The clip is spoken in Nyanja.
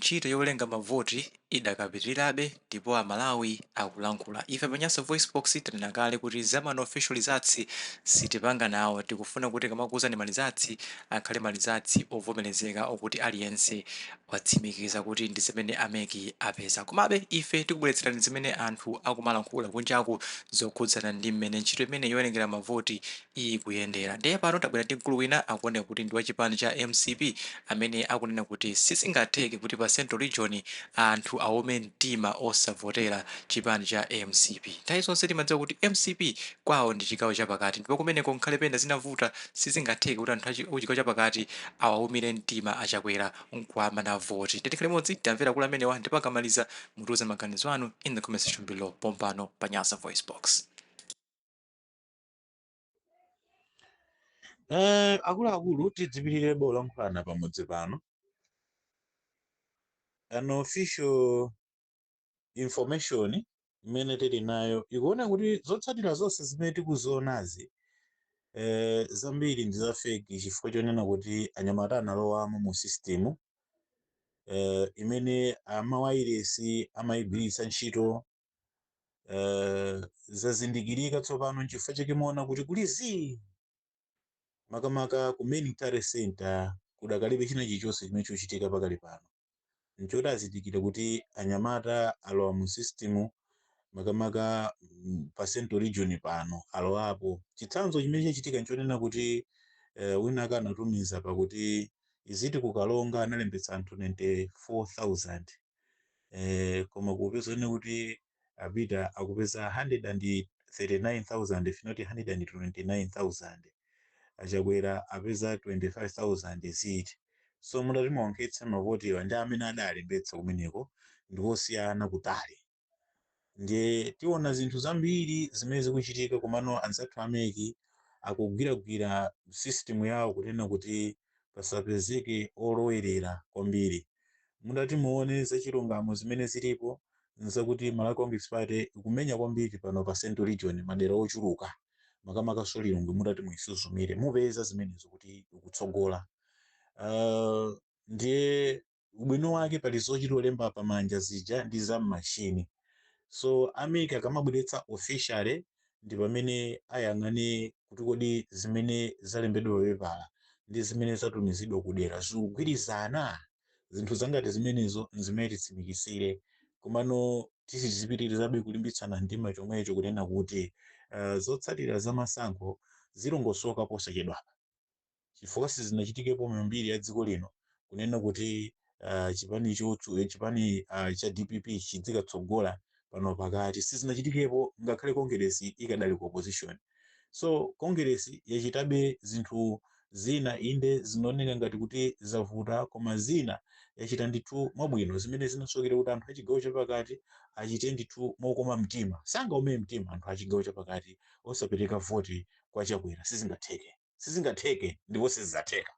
Ntchito yowerenga mavoti idakapitirirabe ndipo Amalawi akulankhula. Ife pa Nyasa VoiceBox tanena kale kuti za ma unofficial lizatsi sitipanga nawo. Tikufuna kuti tikamakuuzani malizatsi akhale malizatsi ovomerezeka okuti aliyense watsimikiza kuti ndi zimene a mec apeza. Komabe ife tikubweretserani zimene anthu akumalankhula kunjaku zokhudzana ndi mmene ntchito imeneyi yowerengera mavoti ikuyendera. Ndiye pano tabwera ndi mkulu wina akuoneka kuti ndi wa chipani cha mcp amene akunena kuti sizingatheke kuti pa central region anthu aumire mtima osavotera chipani cha mcp. Nthawi zonse timadziwa kuti mcp kwawo ndi chigawo chapakati ndipo kumeneko ngakhale pena zitavuta sizingatheke kuti anthu achi- kuchigawo chapakati awaumire mtima a Chakwera nkuwamana voti. Ndiye tikhale limodzi timvere akulu amenewa ndipo akamaliza mutiuze maganizo anu in the comment section below pompano pa Nyasa Voice Box. Eh, akuluakulu tidzipitirirabe kulankhulana pamudzi pano unofficial information imene tili nayo ikuona kuti zotsatira zonse zimene tikuzionazi eh, zambiri ndi za fake chifukwa chonena kuti anyamata analowamo mu system eh, imene amawairesi amayigwiritsa ntchito eh, zazindikirika tsopano nchifukwa chake muona kuti kuli zii makamaka ku main tally center kudakalibe china chilichonse chimene chachitika pakali pano nchoti azindikira kuti anyamata alowa mu system makamaka mm, pa central region pano alowapo chitsanzo chimene chachitika nchonena kuti eh, wina aka anatumiza pakuti iziti kukalonga analembetsa anthu 94000 eh, koma kupezano kuti a Peter akupeza 139,000 if not 129,000 achakwera apeza 25,000 ziti so mutati muonkhetse mavotiwa ndi amene adalembetsa kumeneko ndiwosiyana kutali ndiye tiona zinthu zambiri zimene zikuchitika komano anzathu a mec akugwiragwira system yawo kunena kuti pasapezeke olowerera kwambiri mutati muone zachilungamo zimene zilipo nzakuti malawi congress party ikumenya kwambiri pano pa central region madera ochuluka makamakanso Lilongwe mutati muisuzumire mupeza zimenezo kuti ikutsogola uh, ndiye ubwino wake pali zochito lemba pa manja zija ndi za mmachine so a mec akamabweretsa officially ndi pamene ayang'ane kuti kodi zimene zalembedwa papepala ndi zimene zatumizidwa ku dera zikugwirizana zinthu zangati zimenezo nzimene titsimikizire komano tizipitirizabe kulimbitsana mtima chomwecho kunena kuti uh, zotsatira za masankho zilongosoka posachedwapa chifukwa sizinachitikepo mu mbiri ya dziko lino kunena kuti uh, chipani chotsu eh, chipani uh, cha dpp chidzikatsogola pano pakati sizinachitikepo ngakhale kongeresi ikadali ku opposition so kongeresi yachitabe zinthu zina inde zinaoneka ngati kuti zavuta koma zina yachita ndithu mwabwino zimene zinasokera kuti anthu achigawo chapakati achite ndithu mokoma mtima sangaume mtima anthu achigawo chapakati osapereka voti kwa Chakwera sizingatheke, sizingatheke ndipo sizizatheka.